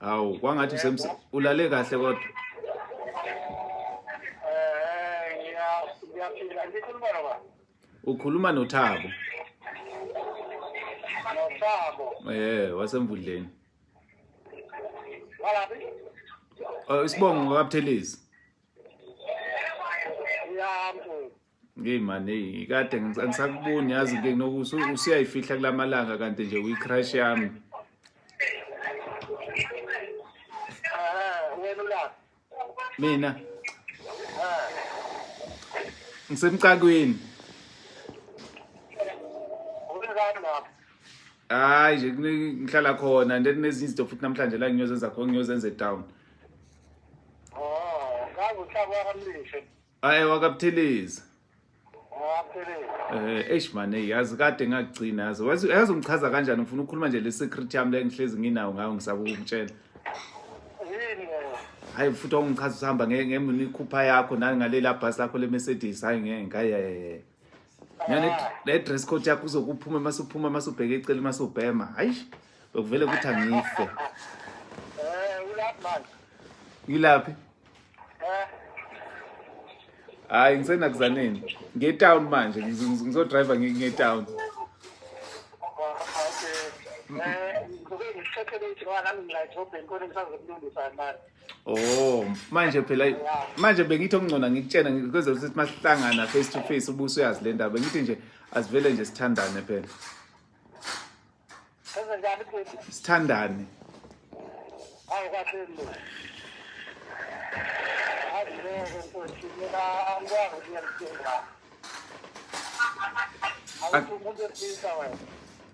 awu kwangathi ulale kahle kodwa ukhuluma nothabo nothabo eh wasemvudleni walaphi oh, isibongo ngokabuthelezi Hey man, hey, kade ngisakuboni yazi ke noku usiyayifihla kulamalanga kanti nje uyi crush yami. Ah, wena la. Mina. Ah. Ngisemcakweni. Hayi nje ngihlala khona and then nezinye izinto futhi namhlanje la ngiyozenza khona ngiyozenza eTown. Oh, ngazi uhlaba amlishe. Hayi wakaButhelezi. WakaButhelezi. Eh eish man hey yazi kade ngakugcina yazi. Wazi yazi ungichaza kanjani ngifuna ukukhuluma nje le secret yami le ngihlezi nginawo ngayo ngisaba ukukutshela. Yini? Hayi futhi ungichaza usihamba ngemikhupha yakho nani ngaleli abhasi lakho le Mercedes hayi ngeke hayi hayi. Ngale le dress code yakho uzokuphuma masuphuma masubheke ecele masubhema. Hayi bekuvele ukuthi angife. Eh ulaphi manje? Ngilaphi? Eh. Hayi ngisena kuzaneni. Nge town manje ngizo driver nge town. Okay. Eh, ngikuthathele ithi nami ngila edrobheni kodwa ngisazokulungisa manje. Oh, manje phela manje bengithi okungcona ngikutshena ngikwenza ukuthi masihlangana face to face ubuso uyazi le ndaba bengithi nje asivele nje sithandane phela. Senzenjani futhi? Sithandane. Hayi kahle lo. Hayi lo futhi mina angikwazi ukuyamthenga. Awuthi umuntu esilisa wena.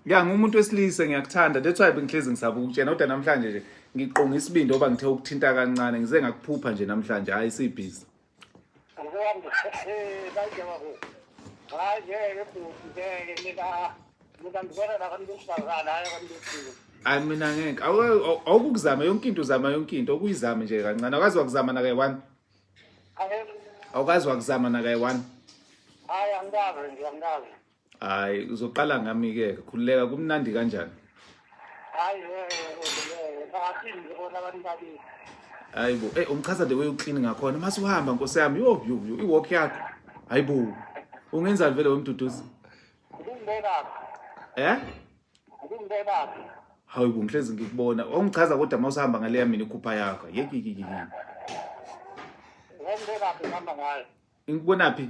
Ya ngumuntu wesilisa ngiyakuthanda that's why bengihlezi ngisaba ukutshena kodwa namhlanje nje ngiqonga isibindi oba ngithe ukuthinta kancane ngize ngakuphupha nje namhlanje hayi sibhizi. Ngiyamba eh baje babo. Hayi ngeke bhuti ngeke mina mina ngibona la kanti usazana hayi kanti usizwe. Hayi mina ngeke awukuzama yonke into uzama yonke into okuyizama nje kancane akazi wakuzama na kayi one. Awukazi wakuzama na kayi one. Hayi angikazi nje angikazi. hayi uzoqala ngami ke khululeka kumnandi kanjani hayi abaphinde bona abantu babili hayi bo eh umchaza the way uclean ngakhona mase uhamba nkosi yami yo yo yo iwalk yakho hayi bo ungenzani vele wemduduzi ubungibeka eh ubungibeka hayi bo ngihlezi ngikubona ungichaza kodwa uma usahamba ngaleya mina ikhupha yakho yekikikiki ngeke ngihamba ngayo ngikubona phi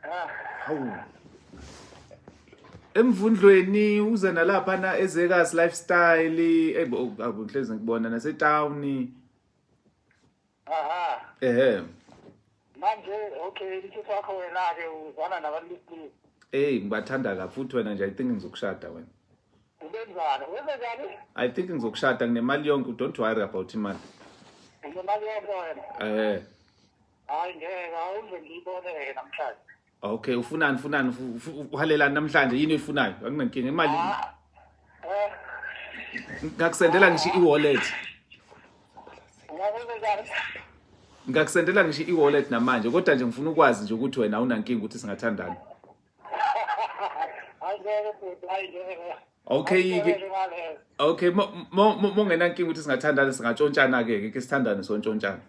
ah. hawu emvundlweni uze nalapha na ezekas lifestyle eyibohlezi oh, ngikubona nasetown aha ehe manje okay isitho wakho wena-ke uzwana nabantu besilisa eyi ngibathanda kabi futhi wena nje i think ngizokushada wena ubenzani wenzekani i think ngizokushada nginemali yonke don't worry about imali unemali yonke wena ehe Hayi ngeke awuze ngiyibone ke namhlanje. Okay, ufunani ufunani uhalelani namhlanje yini oyifunayo? Akunankinga imali. Ah, eh. Ngakusendela ngisho i-wallet. Ngakusendela ngisho i-wallet namanje kodwa nje ngifuna ukwazi nje ukuthi wena awunankinga ukuthi singathandana. Okay ke Okay mongenankinga ukuthi singathandana singatshontshana ke ke sithandane sontshontshana.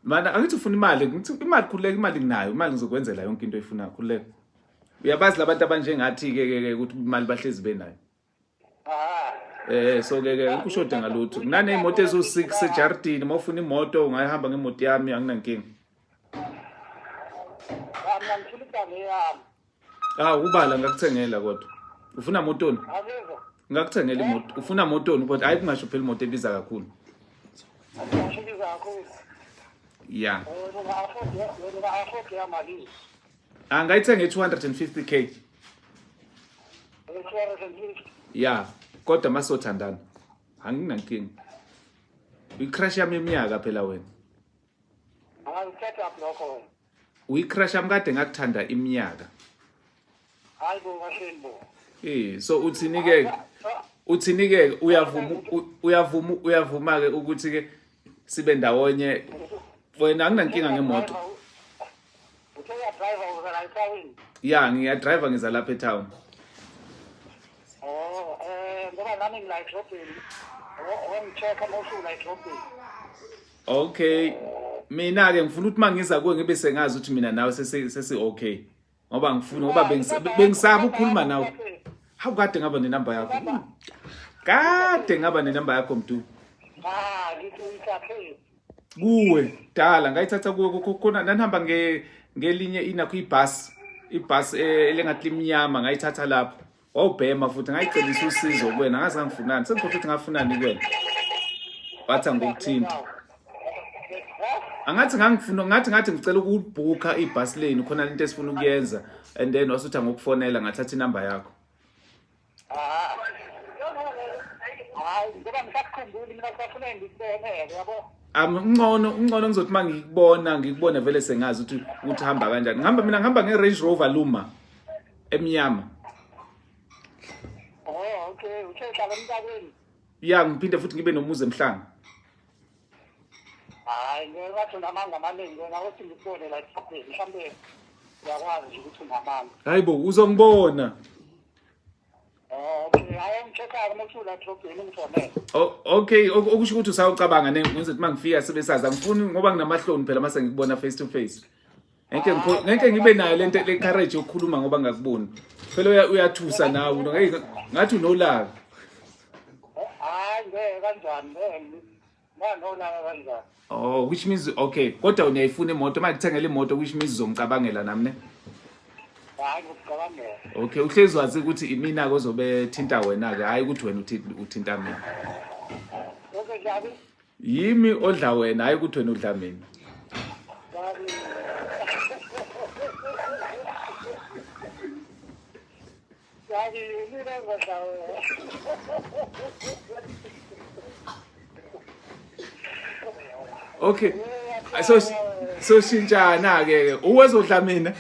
Mana angithi ufuna imali, ngithi imali khuleka imali nginayo, imali ngizokwenzela yonke into oyifunayo khuleka. Uyabazi labantu abanjengathi ke ke ukuthi imali bahlezi benayo. Eh so ke ke ukushoda ngalutho. Nginanezimoto ezu6 sejardini, uma ufuna imoto ungayihamba ngemoto yami anginankinga. Mina ngifuna igama yami. Ah ubala ngakuthengela kodwa. Ufuna motoni? Ngakuthengela imoto. Ufuna motoni kodwa hayi kungasho phela imoto ebiza kakhulu. Ngasho ebiza kakhulu. Yeah. Angayithenga 250k. 250. Yeah. Kodwa masothandana. Anginankinga. Icrash yami iminyaka phela wena. Hayi set up lokho wena. Uyicrush am kade ngakuthanda iminyaka. Hayi bo kahleni bo. Eh so uthini ke? Uthini ke uyavuma uyavuma uyavuma ke ukuthi ke sibe ndawonye wena anginankinga ngemoto. Uthe uya driver uzala eTown. Ya ngiya driver ngiza lapha eTown. Oh eh ngoba nami ngila eTown. Oh, oh, ngitheka mawusula eTown. Okay. Mina ke ngifuna ukuthi mangiza kuwe ngibe sengazi ukuthi mina nawe sesi sesi okay. Ngoba ngifuna ngoba bengisaba ukukhuluma nawe. Hawu kade ngaba nenamba yakho. Kade ngaba nenamba yakho mdu. Ah, ngithi uyithathe. Kuwe dala ngayithatha kuwe kukhona nanihamba nge ngelinye inakho ibus ibus eh, elengathi limnyama ngayithatha lapho. wawubhema futhi ngayicebisa usizo kuwena ngaze ngangifunani sengikhohlwa ukuthi ngafunani kuwena wathi angikuthinti angathi ngangifuna ngathi ngathi ngicela ukubhukha ibhasi leni khona lento esifuna ukuyenza and then wasuthi angokufonela ngathatha inamba yakho amncono um, uncono ngizothi uma ngikubona ngikubone vele sengazi ukuthi ukuthi hamba kanjani ngihamba mina ngihamba nge-range rover luma emnyama oh okay usehlala emntabeni ya ngiphinde futhi ngibe nomuzi emhlanga hayi ngingathi unamanga amaningi wena othi ngikubone la esikhathini mhlawumbe uyakwazi nje ukuthi unamanga hayi bo uzongibona oh, oh, okay okusho ukuthi usawucabanga nengithi uma ngifika sibe sazi angifuni ngoba nginamahloni phela uma sengikubona face to face ngeke ngeke ngibe nayo lento le courage yokukhuluma ngoba ngakuboni phela uyathusa nawe ngeke ngathi unolaka hayi ngeke kanjani nganolaka kanjani oh which means okay kodwa unayifuna imoto uma kuthengela imoto which means uzongicabangela nami ne hayi ngicabangela okay uhlezi wazi ukuthi imina ke ozobe thinta wena ke hayi ukuthi wena uthinta mina okay njabi Yimi odla wena hayi ukuthi wena udla mina. Yazi mina ngodla wena. Okay. So so shintshana ke ke. Uwezodla mina.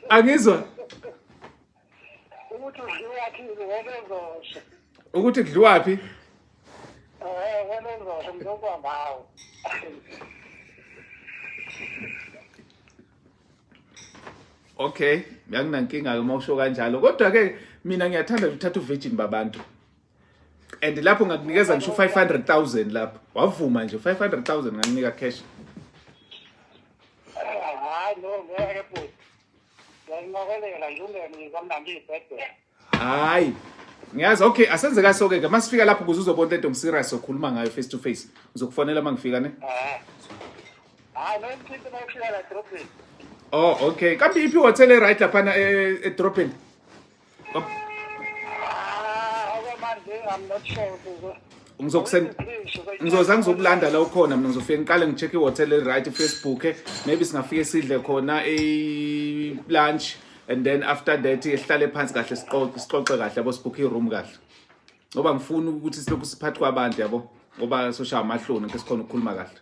Angizwa. ukuthi udliwaphi ngobezosho ukuthi kudliwaphi eh ngobezosho ngizokwa ngawo okay ngiyakunankinga-ke uma usho kanjalo kodwa-ke mina ngiyathanda nje uthatha uvirgin babantu and lapho ngakunikeza ngisho u-five hundred thousand lapho wavuma nje u-five hundred thousand ngakunika cash Ngiyalinqokelela nje ungene kamnandi ibhedela. Hayi. Ngiyazi okay asenze ka soke ke masifika lapho kuze uzobona into serious sokhuluma ngayo face to face. Ngizokufonela mangifika ne. Eh. Hayi no isinto mayifika la drop. Oh okay. Kambe iphi hotel e right lapha na e drop in? ngizoza ngizokulanda la ukhona mina ngizofike ngiqale ngi-check i-hotel eli-right ifacebook maybe singafike sidle khona i-lunch and then after that ehlale phansi kahle sixoxe kahle yabo sibhukhe i-room kahle ngoba ngifuna ukuthi silokhu siphathi kwabantu yabo ngoba soshaya amahloni nke sikhona ukukhuluma kahle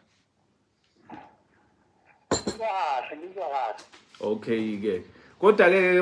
okay-ke kodwa-ke